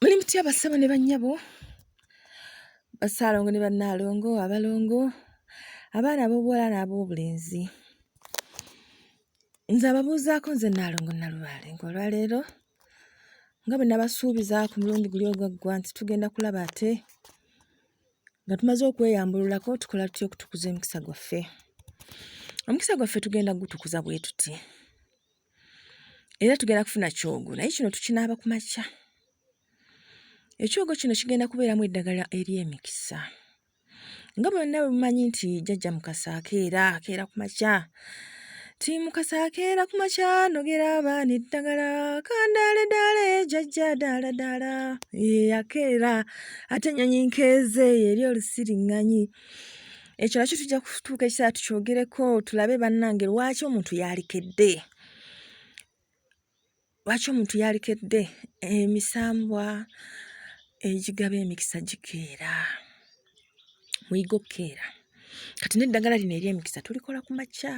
muli mutya basebo ne bannyabo basaalongo ne bannaalongo abalongo abaana ab'obuwala n'ab'obulenzi nze ababuuzaako nze nnaalongo nalubaale ngaolwaleero nga bwe nabasuubiza ku mulundi guli ogwaggwa nti tugenda kulaba ate nga tumaze okweyambululako tukola tutya okutukuza emikisa gwaffe omukisa gwaffe tugenda gutukuza bwe tuti era tugenda kufuna kyogo naye kino tukinaaba ku makya ekyogo kino kigenda kubeeramu eddagala ery'emikisa nga bonna bwe mumanyi nti jajja mukasa akeera akeera ku makya ti mukasa akeera ku makya nogera abaana eddagala kandaale daale jajja daala daala akeera ate ennyonyi nkeeze eri olusiriŋŋanyi ekyo nakyo tujja kutuuka ekiseera tukyogereko tulabe bannange lwaki omuntu yalikedde lwaki omuntu yalikedde emisambwa egigaba emikisa gikeera muyiga okukeera kati n'eddagala lino ery'emikisa tulikola ku makya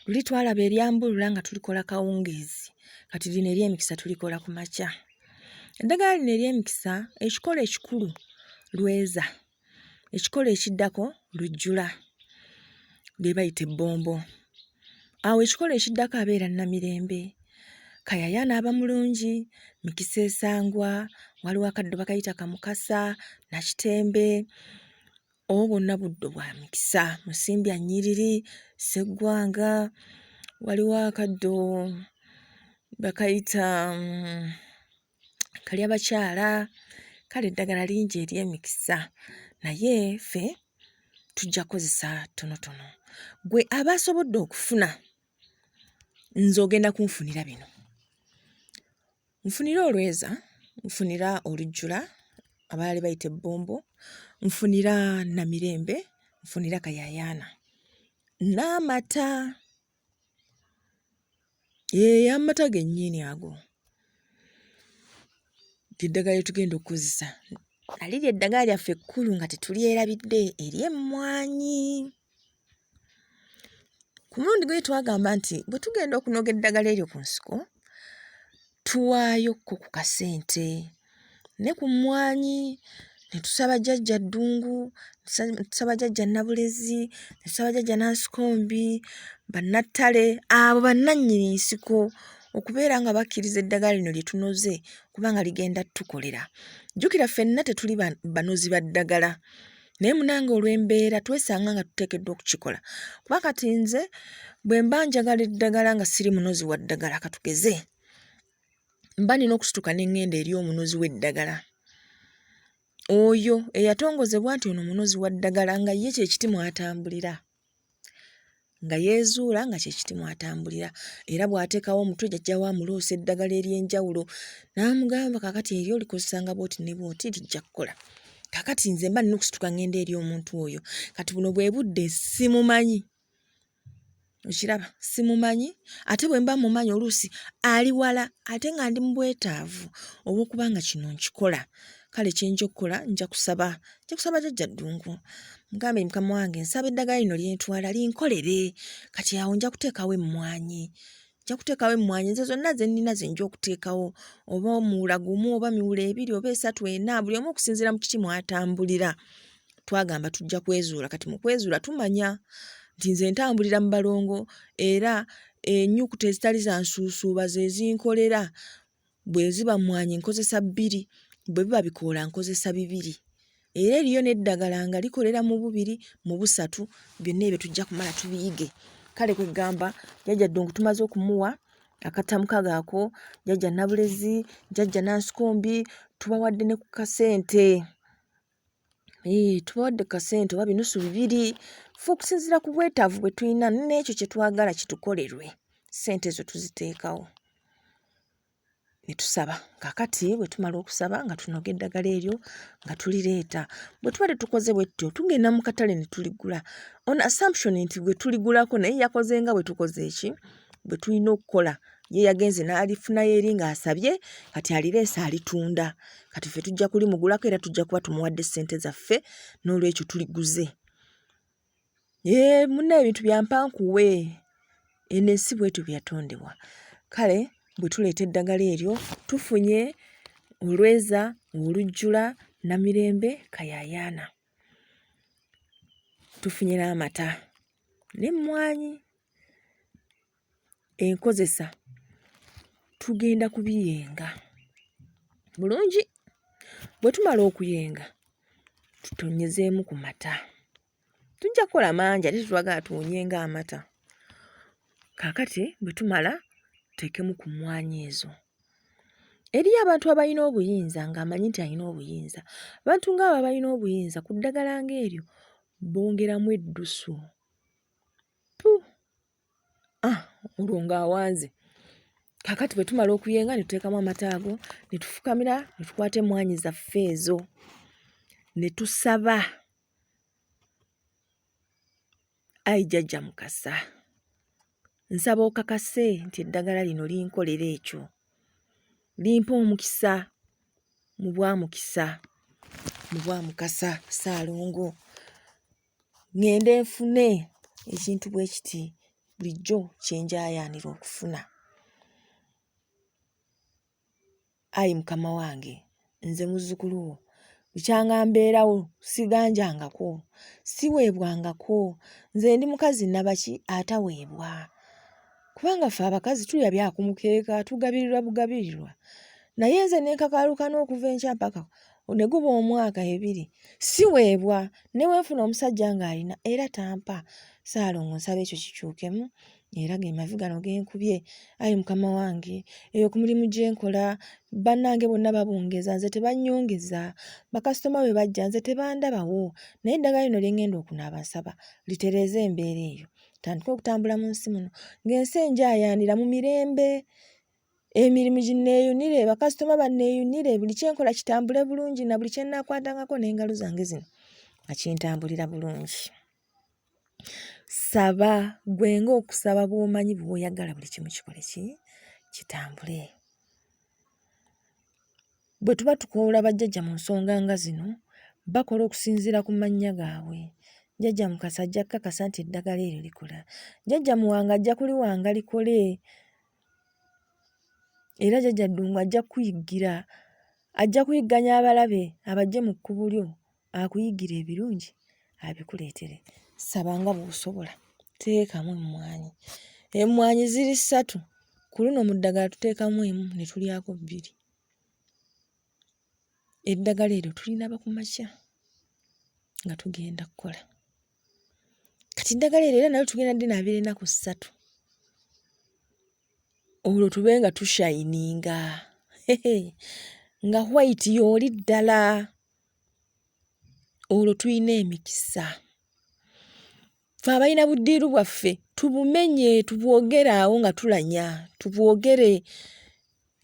luli twalaba eryambulula nga tulikola kawungeezi kati lino ery'emikisa tulikola ku makya eddagala lino ery'emikisa ekikola ekikulu lweza ekikolo ekiddako lujjula lye bayita ebbombo awo ekikolo ekiddako abeera namirembe kayaya n'aba mulungi mikisa esangwa waliwo akaddo bakayita kamukasa nakitembe obo bonna buddo bwa mikisa musimbya nyiriri seggwanga waliwo akaddo bakayita mm, kalya bakyala kale eddagala lingi ery'emikisa naye ffe tujja kozesa tonotono gwe aba asobodde okufuna nze ogenda kunfunira bino nfunira olweza nfunira olujjula abaali bayita ebbombo nfunira namirembe nfunira kayayaana n'amata Eeh amata gennyini ago. Ly'eddagala lye tugenda okukozesa. Nali ly'eddagala lyaffe ekkulu nga tetulyerabidde ery'emmwanyi. Ku mulundi guli twagamba nti bwe tugenda okunoga eddagala eryo ku nsiko, tuwaayo ko ku kasente ne ku mmwanyi ne tusaba jjajja ddungu ne tusaba jjajja nabulezi ne tusaba jjajja nansikombi bannattale abo bannannyini nsiko okubeera nga bakkiriza eddagala lino lye tunoze kubanga ligenda tukolera jjukira ffenna tetuli banozi ba ddagala naye munange olw'embeera twesanga nga tuteekeddwa okukikola kuba kati nze bwe mba njagala eddagala nga siri munozi wa ddagala katugeze mba nina okusituka n'engenda eri omunozi w'eddagala oyo eyatongozebwa nti ono munozi wa ddagala nga ye kyekiti mwatambulira nga yeezuula nga kye kiti mw'atambulira era bw'ateekawo omutwe jajja wa amuloosa eddagala ery'enjawulo n'amugamba kaakati eri olikozesa nga bw'oti ne bw'oti lijja kukola kaakati nze mba nina okusituka ng'enda eri omuntu oyo kati buno bwe budde simumanyi okiraba simumanyi ate bwe mba mumanyi oluusi ali wala ate nga ndi mu bwetaavu obw'okuba nga kino nkikola kale kyenja okukola nja kusaba nja kusaba jajja ddungu mugambe mukama wange nsaba eddagala lino lyentwala linkolere kati awo nja kuteekawo emmwanyi nja kuteekawo emmwanyi nze zonna ze nnina ze nja okuteekawo oba omuwula gumu oba miwula ebiri oba esatu ena buli omu okusinziira mu kiki mwatambulira twagamba tujja kwezuula kati mu kwezuula tumanya nti nze ntambulira mu balongo era enyukuta ezitali za nsuusuuba ze zinkolera Bwe ziba mmwanyi nkozesa bbiri, bwe biba bikoola nkozesa bibiri. Era eriyo n'eddagala nga likolera mu bubiri, mu busatu, byonna ebyo tujja kumala tubiyige. Kale kwe ggamba jjajja Ddungu tumaze okumuwa akattamu kago ako, jjajja Nabulezi, jjajja Nansikombi tubawadde ne ku kasente. Eh, tubawadde kasente oba binusu bibiri fe okusinziira ku bwetaavu bwe tulina n'ekyo kye twagala kitukolerwe sente ezo tuziteekawo ne tusaba kakati bwe tumala okusaba nga tunoga eddagala eryo nga tulireeta bwe tubadde tukoze bwe tutyo tugenda mu katale ne tuligula on assumption nti gwe tuligulako naye yakoze nga bwe tukoze eki bwe tulina okukola ye yagenze n'alifunayo eri ng'asabye kati alireese alitunda kati ffe tujja kulimugulako era tujja kuba tumuwadde ssente zaffe n'olwekyo tuliguze ee muna ebintu byampankuwe eno ensi bwetyo byeyatondebwa kale bwe tuleeta eddagala eryo tufunye olweza olujjula namirembe kayayaana tufunye n'amata n'emmwanyi enkozesa tugenda kubiyenga bulungi bwe tumala okuyenga tutonyezeemu ku mata tujja kukola mangi ate tetwagala tuwonyenga amata kakati bwe tumala tuteekemu ku mmwanyi ezo eriyo abantu abalina obuyinza ng'amanyi nti alina obuyinza abantu ng'abo abalina obuyinza ku ddagala ng'eryo bongeramu eddusu ah, mulungu awanze kakati bwe tumala okuyenga ne tuteekamu amata ago ne tufukamira ne tukwata emmwanyi zaffe ezo ne tusaba ayi jjajja mukasa nsaba okakase nti eddagala lino linkolera ekyo limpa omukisa mu bwamukisa mu bwamukasa saalongo ŋŋende nfune ekintu bwe kiti bulijjo kye njaayaanira okufuna. Ayi Mukama wange, nze muzzukulu wo, bukyanga mbeerawo siganjangako, siweebwangako, nze ndi mukazi nnabaki ataweebwa? kubanga ffe abakazi tulya bya ku mukeeka tugabirirwa bugabirirwa naye nze ne nkakaaluka n'okuva enkya mpaka ne guba omwaka ebiri siweebwa ne we nfuna omusajja ng'alina era tampa saalongo nsaba ekyo kikyukemu era ge mavi gano ge nkubye ayi mukama wange eyo ku mulimu gye nkola bannange bonna babungeza nze tebanyongeza bakasitoma bwe bajja nze tebandabawo naye eddagala lino lye ŋŋenda okunaaba nsaba litereeze embeera eyo tutandike okutambula mu nsi muno ng'ensi enjayaanira mu mirembe emirimu ginneeyunire bakasitoma banneeyunire buli kyenkola kitambule bulungi na buli kyenaakwatangako n'engalo zange zino akintambulira bulungi saba gwe ng'okusaba bw'omanyi bwoyagala buli kimu kikole ki kitambule Bwe tuba tukoowola bajjajja mu nsonga nga zino, bakola okusinziira ku mannya gaabwe. Jjajja Mukasa ajja kukakasa nti eddagala eryo likola. Jjajja Muwanga ajja kuliwanga likole. Era jjajja Ddungu ajja kukuyiggira. Ajja kuyigganya abalabe abajje mu kkubo lyo akuyigira ebirungi abikuleetere saba nga bw'osobola teekamu emmwanyi emmwanyi ziri ssatu ku luno mu ddagala tuteekamu emu ne tulyako bbiri eddagala eryo tulinaba ku makya nga tugenda kukola kati eddagala eryo era nalyo tugenda dinaabira enaku ssatu olwo tube nga tushayininga nga white yooli ddala olwo tulina emikisa fe abalina buddiiru bwaffe tubumenye tubwogere awo nga tulanya tubwogere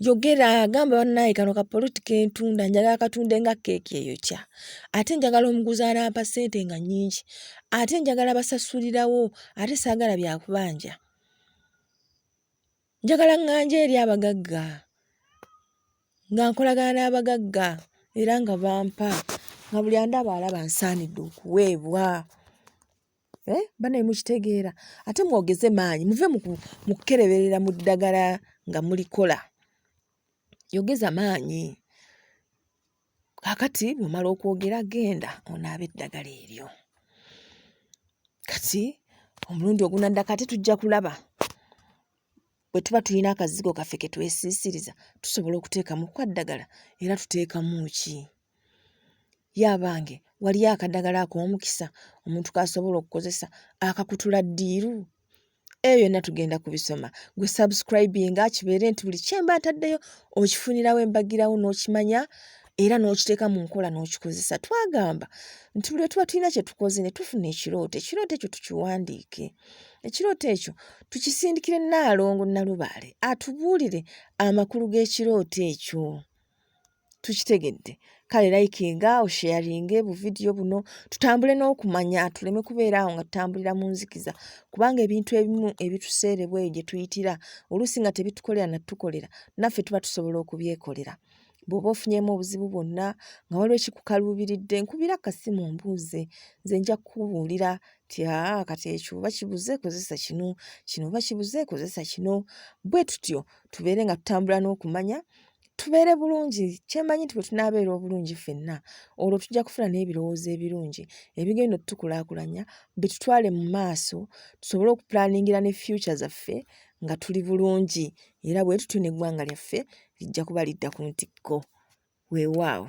yogera gamba banaye kano ka politika entunda njagala katunde nga keeki eyokya ate njagala omuguzi anampa ssente nga nyingi ate njagala basasulirawo ate saagala byakubanja Njagala ŋŋanje eri abagagga nga nkolagana n'abagagga era nga bampa nga buli andaba alaba nsaanidde okuweebwa. Eh, banaye mukitegeera ate mwogeze maanyi muve mu kukereberera mu ddagala nga mulikola yogeza maanyi kakati bwemala okwogera genda onaaba eddagala eryo kati omulundi ogunaddako ate tujja kulaba bwe tuba tulina akazigo kaffe ke twesiisiriza tusobola okuteekamu kwaddagala era tuteekamu ki yabange waliyo akadagala ak'omukisa omuntu k'asobola okukozesa akakutula ddiiru eyo yonna tugenda kubisoma gwe subscribinga kibeere nti buli kyemba ntaddeyo okifunirawo embagirawo n'okimanya era n'okiteeka mu nkola n'okikozesa twagamba nti buli lwe tuba tulina kye tukoze ne tufuna ekirooto ekirooto ekyo tukiwandiike ekirooto ekyo tukisindikire naalongo nalubaale atubuulire amakulu g'ekirooto ekyo tukitegedde kale likinga osheyaringe buvidiyo buno tutambule n'okumanya tuleme kubeera awo nga tutambulira mu nzikiza kubanga ebintu ebimu ebituseerebwa eyo gye tuyitira oluusi nga tebitukolera natutukolera naffe tuba tusobola okubyekolera bw'oba ofunyemu obuzibu bwonna nga waliwo ekikukaluubiridde nkubira kasimu mbuuze nze nja kukubuulira ti aa kati ekyo oba kibuze kozesa kino kino oba kibuze kozesa kino bwe tutyo tubeere nga tutambula n'okumanya tubeere bulungi kyemanyi nti bwe tunaabeera obulungi ffenna olwo tujja kufuna n'ebirowoozo ebirungi ebigenda otutukulaakulanya bitutwale mu maaso tusobole okupulaningira ne fyuca zaffe nga tuli bulungi era bwe tutyo n'eggwanga lyaffe lijja kuba lidda ku ntikko weewaawo